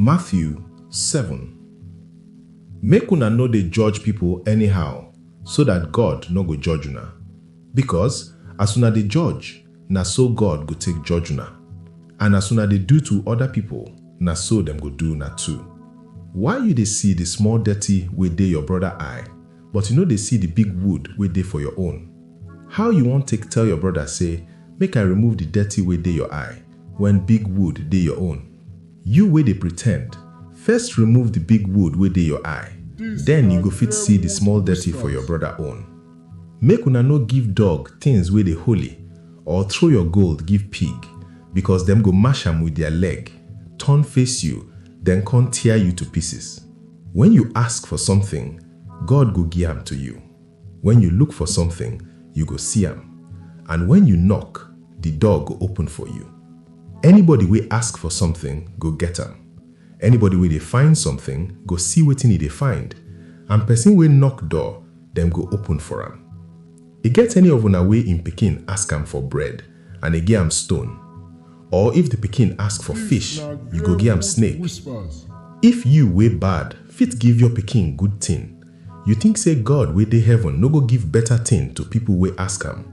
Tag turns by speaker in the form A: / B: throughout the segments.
A: Matthew seven Make una no dey judge pipo anyhow, so dat God nor go judge una, bikos as una dey judge, na so God go take judge una, and as una dey do to oda pipo, na so dem go do una too. Why yu dey si di small dirty wey dey yor broda eye, but yu nor dey si di big wood wey dey for yor own? How yu won take tell yor broda sey, Make I remove di dirty wey dey yor eye, when big wood dey your own. You wey dey pretend, first remove the big wood wey dey your eye, then you go fit see the small dirty for your brother own. Make una no give dog things wey dey holy, or throw your gold give pig, because dem go mash am with their leg, turn face you, then con tear you to pieces. When you ask for something, God go gi am to you. When you look for something, you go see am, and when you knock, the door go open for you. Anybody wey ask for something go get am, anybody wey dey find something go see wetin e dey find, and person wey knock door, dem go open for am. E get any of una wey im pikin ask am for bread, and e gi am stone? Or if the pikin ask for fish, you go gi am snake? If you wey bad fit give your pikin good thing, You think say God wey dey heaven no go give better thing to people wey ask am?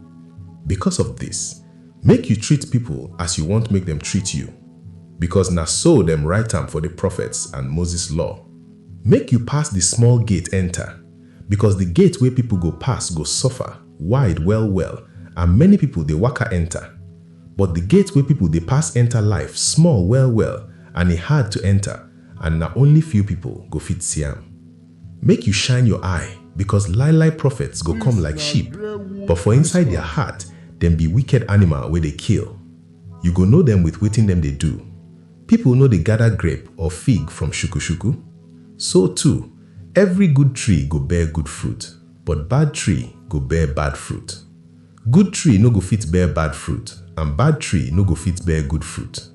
A: Because of this, make you treat people as you want make dem treat you, because na so dem write am for the prophets and Moses law. Make you pass the small gate enter, because the gate wey people go pass go suffer, wide well well, and many people dey waka enter. But the gate wey people dey pass enter life small well well and e hard to enter and na only few people go fit see am. Make yu shine yor eye, bikos lie-lie profets go kom like sheep, but for inside dia heart dem bi wiked animal wey dey kill. Yu go know dem with wetin dem dey do. Pipol no dey gada grape or fig from shuku-shuku? So too, evry good tree go bear good fruit, but bad tree go bear bad fruit. Good tree no go fit bear bad fruit, and bad tree no go fit bear good fruit.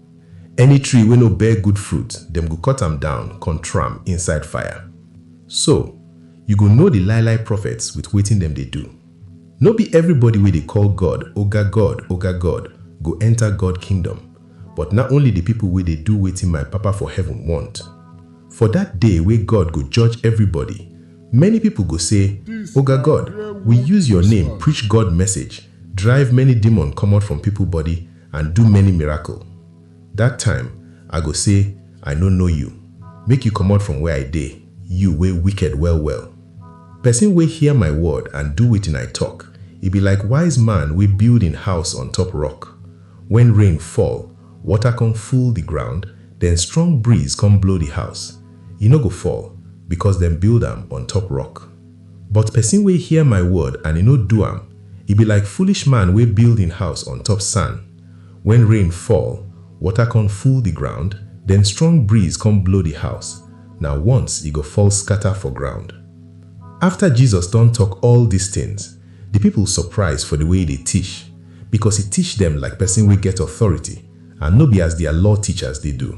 A: Any tree wey no bear good fruit, dem go cut am down kon throw am inside fire. So, yu go know di lie-lie prophets with wetin dem dey do. No bi evribody wey dey call God, Oga God, Oga God, go enter God kingdom, but na only di pipol wey dey do wetin my Papa for heaven wont. For dat day wey God go judge evribody, many pipol go sey, Oga God, wi use yor name preach God message, drive many demon komot from pipol body, and do many miracle. Dat time, I go sey, I no know you. Make you comot from where I dey, you wey wicked well-well. Pesin wey hear my word and do wetin I talk, e be like wise man wey build im house on top rock. Wen rain fall, water come full di ground, den strong breeze come blow di house. E no go fall, becos dem build am on top rock. But pesin wey hear my word and e no do am, e be like foolish man wey build hin house on top san. Wen rain fall, water con full di ground, den strong breeze con blow di house, na once e go fall scata for ground. Afta Jesus don tok all dis tins, di pipol surprise for di way e dey tish, bikos e tish dem like pesin wey get authority and no be as dia law tichas dey do.